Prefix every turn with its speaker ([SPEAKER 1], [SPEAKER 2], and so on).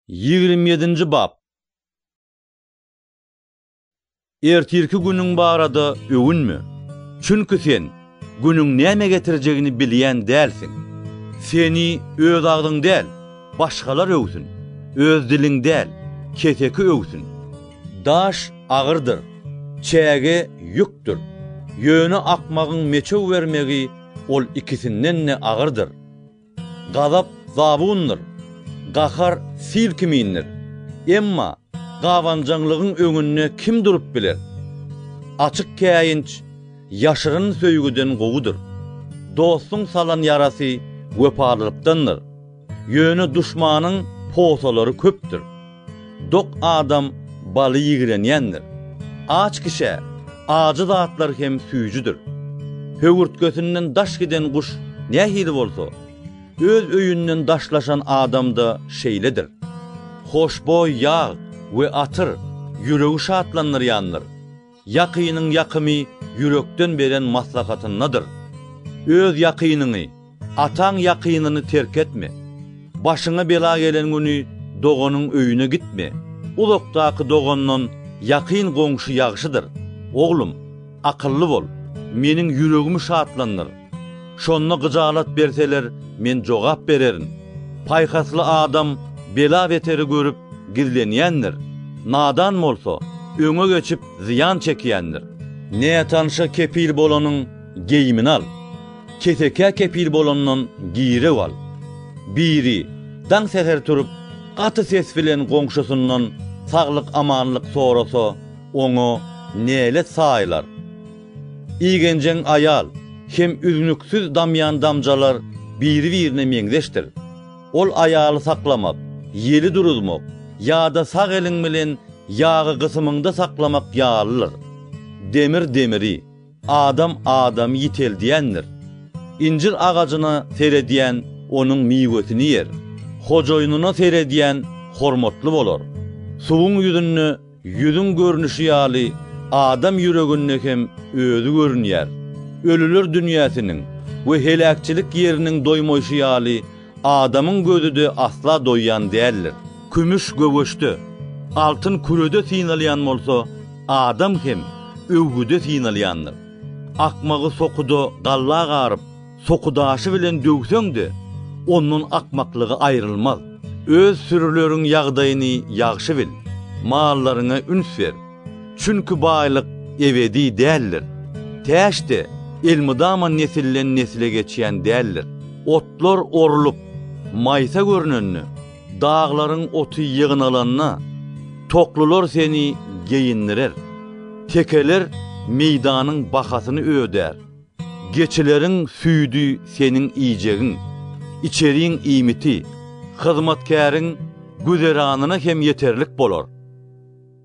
[SPEAKER 1] Ýigrimi ýedinji bap. Ertirki günüň barada öwünme. Çünki sen günüň näme getirjegini bilýän dälsiň. Seni öz agzyň däl, başgalar öwsün, öz diliň däl, keseki öwsün. Daş agyrdyr, çäge ýükdür. Ýöne akmagyň meçew bermegi ol ikisinden-de agyrdyr. Gazap zabundyr, gahar sil kimindir. Emma gabanjaňlygyň öňünde kim durup biler? Açyk käýinç ýaşyryn söýgüden gowudyr. Dostuň salan ýarasy wepalylykdandyr. Ýöne duşmanyň posalary köpdür. Dok adam baly ýigrenýändir. Aç kişä ajy zatlar hem süýjüdir. Höwürtgesinden daş giden guş nähili bolsa, öz öýünden daşlaşan adam-da şeýledir. Hoşboý ýag we atyr ýüregi şatlandyrýandyr. Ýakynyň ýakymy ýürekden beren maslahatyndadyr. Öz ýakynyňy, ataň ýakynyny terk etme. Başyňa bela gelen güni doganyň öýüne gitme. Uzakdaky dogandan ýakyn goňşy ýagşydyr. Oglum, akylly bol. Meniň ýüregimi şatlandyr. Şonda gyjalat berseler, men jogap bererin. Paýhasly adam bela-beteri görüp, gizlenýändir, nadan bolsa, öňe geçip, zyýan çekýändir. Nätanşa kepil bolanyň geýimini al, kesekä kepil bolandan girew al. Biri, daň säher turup, gaty ses bilen goňşusyndan saglyk-amanlyk sorasa, oňa nälet saýylar? Igenjeň aýal hem üznüksiz damýan damjalar biri-birine meňzeşdir. Ol aýaly saklamak, ýeli duruzmak ýa-da sag eliň bilen ýagy gysymyňda saklamak ýalydyr. Demir demiri, adam adamy ýiteldýändir. Injir agajyna seredýän onuň miwesini ýer. Hojaýynyna seredýän hormatly bolar. Suwuň ýüzünde Ýüzüň görnüşi ýaly adam ýüreginde hem özi görünýär. Ölüler dünýäsiniň we heläkçilik ýeriniň doýmaýşy ýaly adamyň gözi-de asla doýýan däldir. Kümüş göwüşde, altyn kürede synalýan bolsa, adam hem öwgüde synalýandyr. Akmagy sokuda galla garyp, sokudaşy bilen döwseň-de, ondan akmaklygy aýrylmaz. Öz sürüleriň ýagdaýyny ýagşy bil, mallaryňa üns ber. Çünki baýlyk ebedi däldir. Täç-de elmydama nesilden-nesle geçýän däldir. Otlar orlup, maýsa görnende, daglaryň oty ýygnalanda, toklylar seni geýindirer. Tekeler meýdanyň bahasyny ödär. Geçileriň süýdi seniň iýjegiň, içeriň iýmiti, hyzmatkäriň güzeranyna hem ýeterlik bolar.